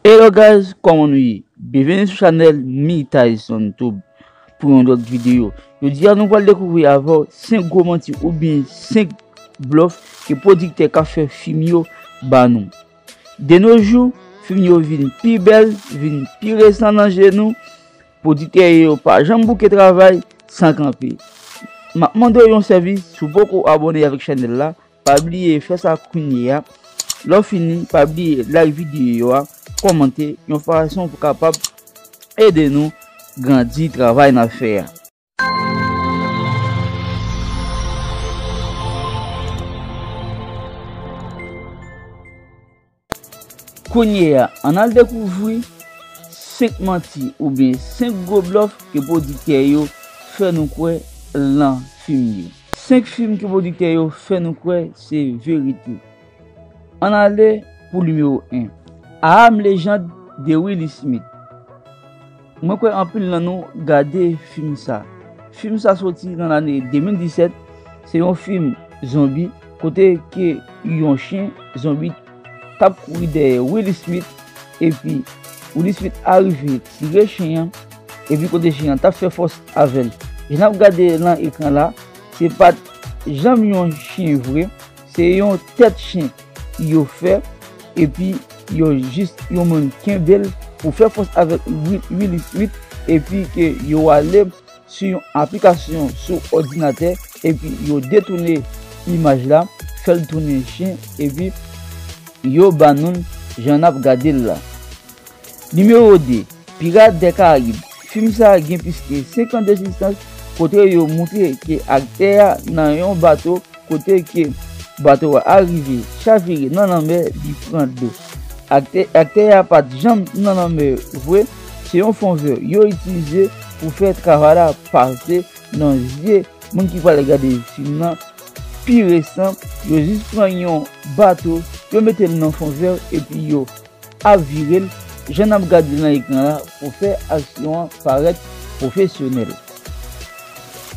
Hello guys kòman nou ye byenveni sou chanèl mythaisontoube pou yon lòt videyo jodi a nou pral dekouvri avèw 5 gwo manti oubyen 5 blòf ke pwodiktè kap fè fim yo ba nou de no jou fim yo vin pi bèl vin pi resan nan je nou pwodiktè yo pa janm bouke travay san kanpe map mandew yon sèvis si w poko abòne avèk chanèl la Pa bliye fè sa kounye a. Lè w fini, pa bliye like videyo a, kòmante yon fason pou kapab ede nou grandi travay n ap fè a. Kounye a, ann al dekouvri 5 manti oubyen 5 gwo blòf ke pwodiktè yo fè nou kwè lan fim yo. 5 fim ke pwodiktè yo fè nou kwè se verite. Ann ale pou nimewo 1, I Am Legend de Will Smith. Mwen kwè anpil nan nou gade fim sa. Fim sa soti nan lane 2017, se yon fim zonbi kote ke yon chyen zonbi tap kouri dèyè Will Smith epi Will Smith arive tire chyen an epi kote chyen an tap fè fòs avèl. Jan nap gade lan ekran la se pat janm yon chyen vre. Se yon tèt chen yo fè epi yo jis yon moun kenbel pou fè fòs avèk Willy Smith epi ke yo ale sou yon aplikasyon sou òdinatè epi yo detoune imaj la fèl tounen chen epi yo ba noul jan nap gadel la. Nimewo 2, Pirates des Caraibes, fim sa gen plis ke 5 an d'ekzistans kote yo moutre ke aktè a nan yon bato kote ke bato a rive chavire nan lanmè li pran dlo. Aktè a pat janm nan lanmè vre, se yon fon vè yo itilize pou fè travay la pase nan zye moun ki pral gade fim nan pi resan, yo jis pran yon bato yo mete'l nan fon vè epi yo Ap vire l, jan n ap gad li nan ekran la pou fè aksyon an parèt pwofesyonèl.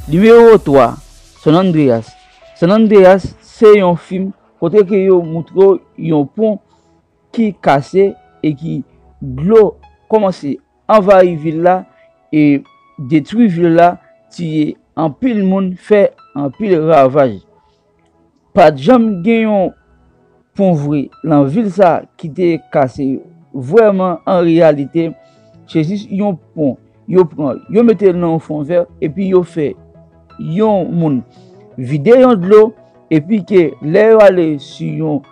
Nimewo 3, San Andreas San Andreas se yon fim kote ke yo moutre w yon pon ki kase e ki dlo kòmanse anvayi vil la e detwi vil la, tiye anpil moun, fè anpil ravaj. Pat janm gen yon pon vre lan vil sa ki te kase yo. Vreman, an reyalite, se jis yon pon yo pran, yo mete l nan yon fon vè epi yo fè yon moun vide yon dlo epi ke lè yo ale su yon.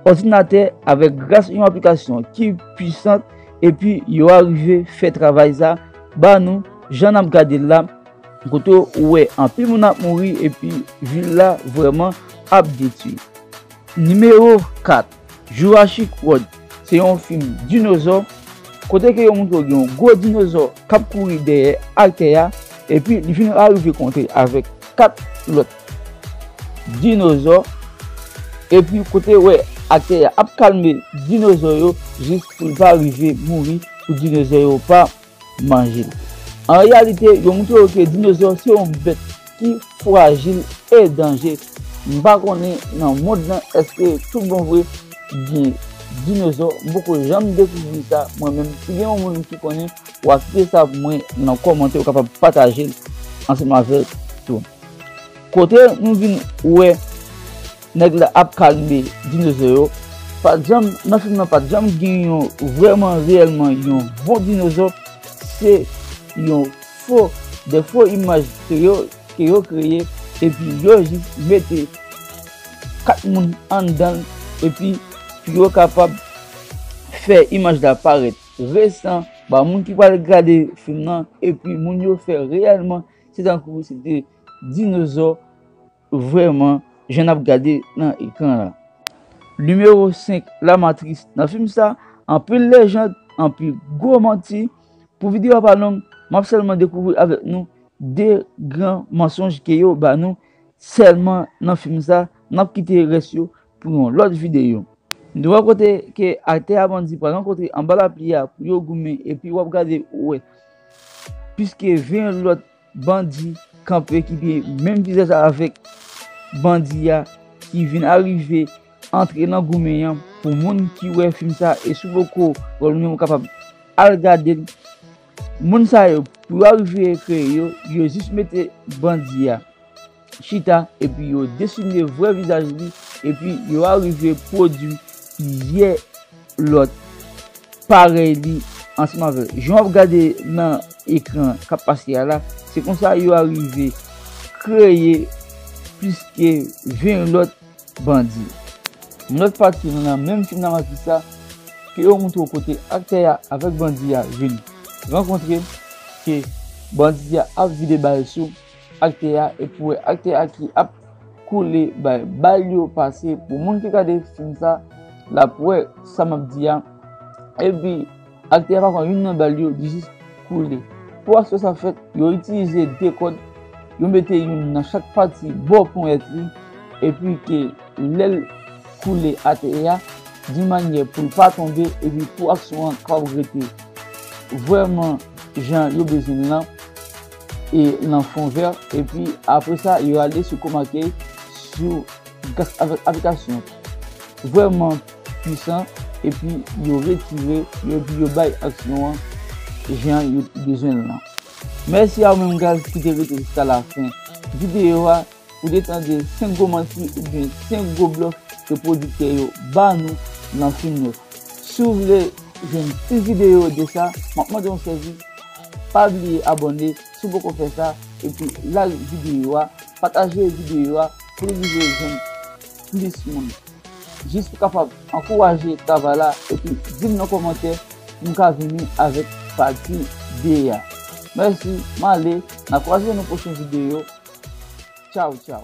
òdinatè avèk gras yon aplikasyon ki pwisant epi yo arive fè travay sa ba nou jan n ap gade l la kote ou wè anpil moun ap mouri epi vil la vrèman ap detwi. Nimewo 4, Jurassic World se yon fim dinozò kote ke yo montre w gen yon gwo dinozò k ap kouri dèyè ak tè a epi li fin arive kontre avèk 4 lòt Dinozò, epi kote wè ak tè a ap kalme dinozò yo jis pou l pa rive mouri pou dinozò yo pa manje l. An reyalite, yo montre yo ke dinozò se yon bèt ki fwajil e danje. M pa konnen nan mond lan èske tout bon vre gen dinozò, m poko janm dekouvri sa mwen menm. Si gen yon moun ki konnen, w a kite sa pou mwen nan kòmantè, ou kapab pataje l ansanm avè m tou. Kote nou vin wè nèg la ap kalme dinozo yo, pat janm nan fim nan pat janm gen yon vrèman reyèlman yon bon dinozo, se yon fo de fo imaj ke yo ke yo kreye epi yo jis mete 4 moun anndan l epi pou yo kapab fè imaj la parèt resan ba moun ki pral gade fim nan epi moun yo fè reyèlman Se tankou se te dinozò vrèman jan n ap gade nan ekran la. Nimewo 5, La Matrice Nan fim sa, anpil lejand, anpil gwo manti. Pou videyo a pa long, m ap sèlman dekouvri avèk nou 2 gran mansonj ke yo ba nou sèlman nan fim sa, n ap kite rès yo pou yon lòt videyo. M te wè kote ke aktè a bandi pral rankontre anba lapli a pou yo goumen epi wap gade ou wè plis ke 20 lòt bandi kanpe ki gen menm vizaj avèk bandi a ki vin arive antre nan goumen an pou moun ki wè fim sa e si w poko wè l ou menm ou kapab al gade l moun sa yo pou yo arive kreye yo yo jis mete bandi a. chita epi yo desine vrè vizaj li epi yo arive pwodui plizyè lòt parèy li ansanm avèk jan w ap gade nan ekran k ap pase a la, se konsa yo arive kreye plis ke 20 lòt bandi. Yon lòt pati nan menm fim Nan Maji sa, ke yo montre w kote aktè a avèk bandi a vin rankontre, ke bandi a ap vide bal sou. Akte a e pou wè akte a ki ap koule bay bal yo pase pou moun ki gade fim sa lap wè sa map di a epi akte a pa pran youn nan bal yo li jis koule pou aksyon sa fèt yo itilize 2 kòd yo mete youn nan chak pati bò ponyèt li epi ke lèl koule atè a di manyè poul pa tonbe epi pou aksyon an kapab rete vrèman jan yo bezwen l lan. e nan fon vè epi apre sa yo ale sou koma key sou gas avèk aplikasyon vrèman pwisan epi yo retire yo epi yo bay aksyon an jan yo bezwen l lan. Mèsi a ou menm guys ki te rete jiska la fen videyo a. Ou te tande 5 gwo manti oubyen 5 gwo blòf ke pwodiktè yo ba nou nan fim yo. Si w vle jwenn plis videyo de sa, m ap mande w sèvi, pa bliye abòne si w poko fè sa epi like videyo a, pataje videyo a pou l rive jwenn plis moun. Jis pou kapab ankouraje travay la epi dim nan kòmantè pou m ka vini avèk pati 2 a. Mèsi male na kwaze nou pwochen video tchawtchaw.